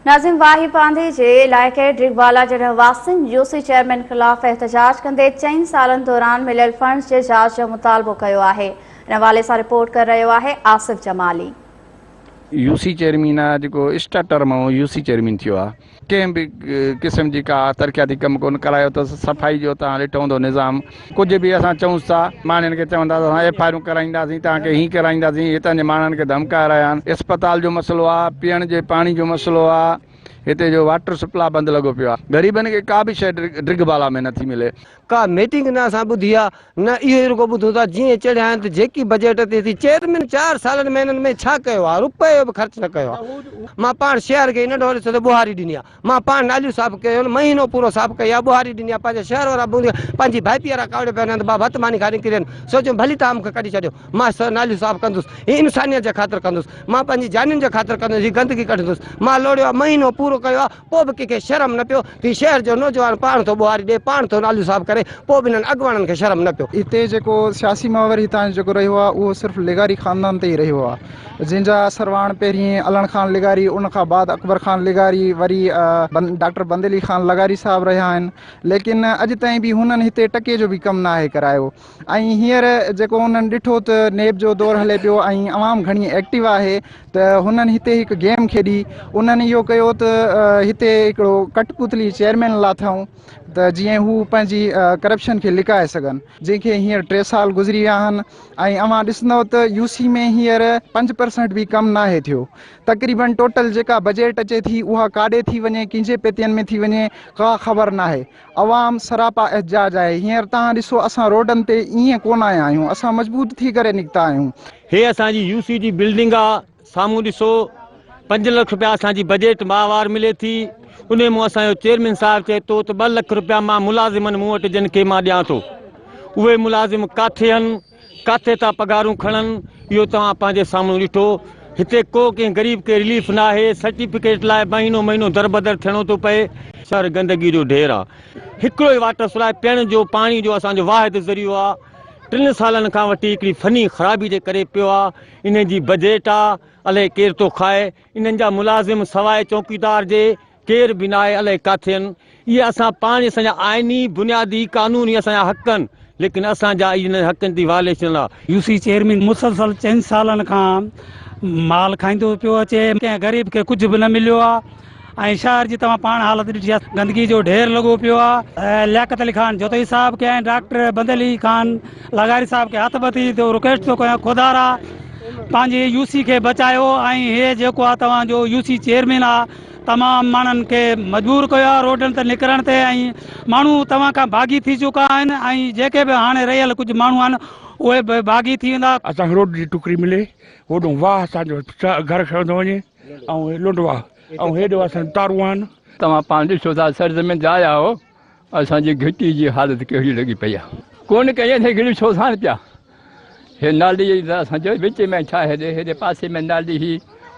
ناظم واهي پانڌي جي علائقي ڊگبالا جي رهواسين يو سي چيئرمين خلاف احتجاج ڪندي چئن سالن دوران مليل فنڊز جي جاچ جو مطالبو ڪيو آهي ان حوالي سان رپورٽ ڪري رهيو آهي Asif Jamali. U C chairman آ جيڪو اسٽا ٽر مئو يو سي چيئرمين ٿيو آ ڪنهن به قسم جي ڪا ترقياتي ڪم ڪون ڪرايو اٿس صفائي جو تان ڏٺو هوندو نظام ڪجهه به اسان چئونس ٿا ماڻهن کي چوندا ته اسان ايف آء آرون ڪرائينداسين توهان کي هي ڪرائينداسين هتان جي ماڻهن کي ڌمڪائي رهيا آهن اسپتال جو مسئلو آهي پيئڻ جي پاڻي جو مسئلو آهي هتي جو واٽر سپلاء بند لڳو پيو آهي غريبن کي ڪا به شيء ڊرگهه بالا ۾ نٿي ملي. ڪا ميٽنگ نه اسان ٻڌي آهي نه اهو ئي رڳو ٻڌون ٿا جيئن چڙهيا آهن ته جيڪي بجيٽ تي ٿي چيئرمين چار سالن ۾ هنن ۾ ڇا ڪيو آهي رپيو به خرچ نه ڪيو آهي مان پاڻ شيار کي هن ڏهاڙي سندي ٻوهاري ڏني آهي مان پاڻ ناليون صاف ڪيون، مهينو پورو صاف ڪيا، ٻهاري ڏني ها، پنهنجا شهر وارا بونريا پنهنجي ڀائپي وارا ڪاوڙيا پيا هنڌ مان ڀت ماني کائي نڪري وين، سوچيم ڀلي توهان مون کي ڪڍي ڇڏيو، مان ناليون صاف ڪندس، هي انسانيت جي خاطر ڪندس، مان پنهنجي جانين جي خاطر ڪندس، هي گندگي ڪڍندس، مان لوڙيو ها، مهينو پورو ڪيو ها، پوء به ڪنهن کي شرم نه پيو، هي شهر جو نوجوان پاڻ ٿو ٻهاري ڏئي، پاڻ ٿو ناليون صاف ڪري، پوء به هنن اڳواڻن کي شرم نه پيو. هتي جيڪو سياسي محور هتان جو جيڪو رهيو آهي، اهو صرف لغاري خاندان تي ئي رهيو آهي. جنهن جا سرواڻ پهرين علڻ خان لغاري ان کان بعد اڪبر خان لغاري وري ڊاڪٽر بند علي خان لغاري صاحب رهيا آهن ليڪن اڄ تائين به هنن هتي ٽڪي جو به ڪم ناهي ڪرايو ۽ هينئر جيڪو انهن ڏٺو ته نيب جو دور هلي پيو ۽ عوام گهڻي ايڪٽو آهي ته هنن هتي هڪ گيم کيڏي انهن اهو ڪيو ته هتي هڪڙو ڪٽ پتلي چيئرمين لاٿائون ته جيئن هو پنهنجي ڪرپشن کي لڪائي سگهن جنهن کي هينئر ٽي سال گذري ويا آهن ۽ اوهان ڏسندؤ ته يو سي ۾ هينئر پنج پرسنٽ به ڪم ناهي ٿيو. تقريبن ٽوٽل جيڪا بجيٽ اچي ٿي اها ڪاڏي ٿي وڃي ڪنهن جي پيتين ۾ ٿي وڃي ڪا خبر ناهي. عوام سراپا احتجاج آهي هينئر تهان ڏسو اسان روڊن تي ائين ڪونه آيا آهيون اسان مضبوط ٿي ڪري نڪتا آهيون. هي اسان جي يو سي جي بلڊنگ آ سامهون ڏسو پنج لک رپيا اسان جي بجيٽ ماهوار ملي ٿي انهي مون اسان جو چيئرمين صاحب چئي ٿو ته ٻه لک رپيا مان ملازمن مون وٽ جن کي مان ڏيان ٿو اهي ملازم ڪاٿي هن ڪاٿي ٿا پگهارون کڻن اهو توهان پنهنجي سامهون ڏٺو هتي ڪو ڪنهن غريب کي رليف ناهي سرٽيفڪيٽ لاء مهينو مهينو دربدر ٿيڻو ٿو پئي شهر گندگي جو ڍير آ هڪڙو ئي واٽر سپلاء پيئڻ جو پاڻي جو اسان جو واحد ذريعو آ ٽن سالن کان وٺي هڪڙي فني خرابي جي ڪري پيو آ انهن جي بجيٽ آ، الئي ڪير ٿو کائي. انهن جا ملازم سواء چوڪيدار جي ڪير به ناهي، الئي ڪاٿي آهن. اهي اسان پاڻ اسان جا آئيني بنيادي قانون هي اسان جا حق آهن، ليڪن اسان جا اهي انهن حقن جي وائليشن آ. يو سي چيئرمين مسلسل چئن سالن کان مال کائيندو پيو اچي، ڪنهن غريب کي ڪجهه به نه مليو آ. ۽ شهر جي توهان پاڻ حالت ڏٺي آهي گندگي جو ڍير لڳو پيو آهي لياقت علي خان جوتئي صاحب کي ۽ ڊاڪٽر بند علي خان لغاري صاحب کي هٿ ٻڌي ٿو رڪويسٽ ٿو ڪيان خدارا پنهنجي يو سي کي بچايو ۽ هي جيڪو آهي توهان جو يو سي چيئرمين آهي تمام ماڻهن کي مجبور ڪيو آهي روڊن تي نڪرڻ تي ۽ ماڻهو توهان کان باغي ٿي چڪا آهن ۽ جيڪي به هاڻي رهيل ڪجهه ماڻهو آهن اهي به باغي ٿي ويندا اسان کي روڊ جي ٽڪري ملي هوڏو واهه اسان جو گهر کڻندو وڃي ۽ لنڊوا ۽ هيڊ واسن تاروان. توهان پاڻ ڏسو ٿا سرزمين جاء آهو اسان جي گهٽي جي حالت ڪهڙي لڳي پئي آهي ڪونه ڪئي اٿئي گهڙي ڇو ساڻ پيا هي نالي ته اسان جو وچ ۾ ڇا هيڏي هيڏي پاسي ۾ نالي هي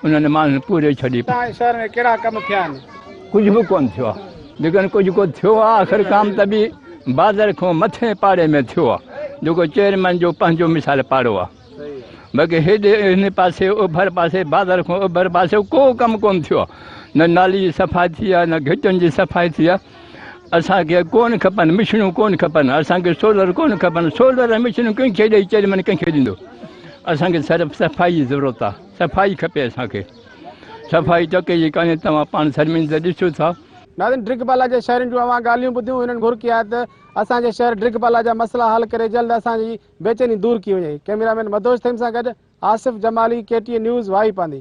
انهن ماڻهن پوري ڇڏي پئي آهي شهر ۾ ڪهڙا ڪم ٿيا آهن ڪجهه به ڪونه ٿيو آهي جيڪڏهن ڪجهه ڪو ٿيو آهي آخر ڪام ته به بازر کان مٿين پاڙي ۾ ٿيو آهي جيڪو چيئرمين جو پنهنجو مثال پاڙو آهي. بلڪه هيڏي هن پاسي اوڀر پاسي بازار کان اوڀر پاسي ڪو ڪم ڪونه ٿيو آهي. نه نالي جي صفائي ٿي آهي نه گهٽين جي صفائي ٿي آهي. اسان کي ڪونه کپن مشينون ڪونه کپن اسان کي سولر ڪونه کپن سولر ۽ مشينون ڪنهن کي ڏئي چيئرمين ڪنهن کي ڏيندو اسان کي صرف صفائي جي ضرورت آهي صفائي کپي اسان کي صفائي ٽڪي جي ڪانهي توهان پاڻ سرمين ته ڏسو ٿا. ناظرين ڊرگ بالا جي شهرين جون اوهان ڳالهيون ٻڌيون هنن گهر ڪي آهي ته اسان جي شهر ڊرگ بالا جا مسئلا حل ڪري جلد اسان جي بيچيني دور ڪي وڃي ھئي. ڪئميرا مين مدھوش ٿھيم سان گڏ Asif Jamali K T N news Wahi Pandi.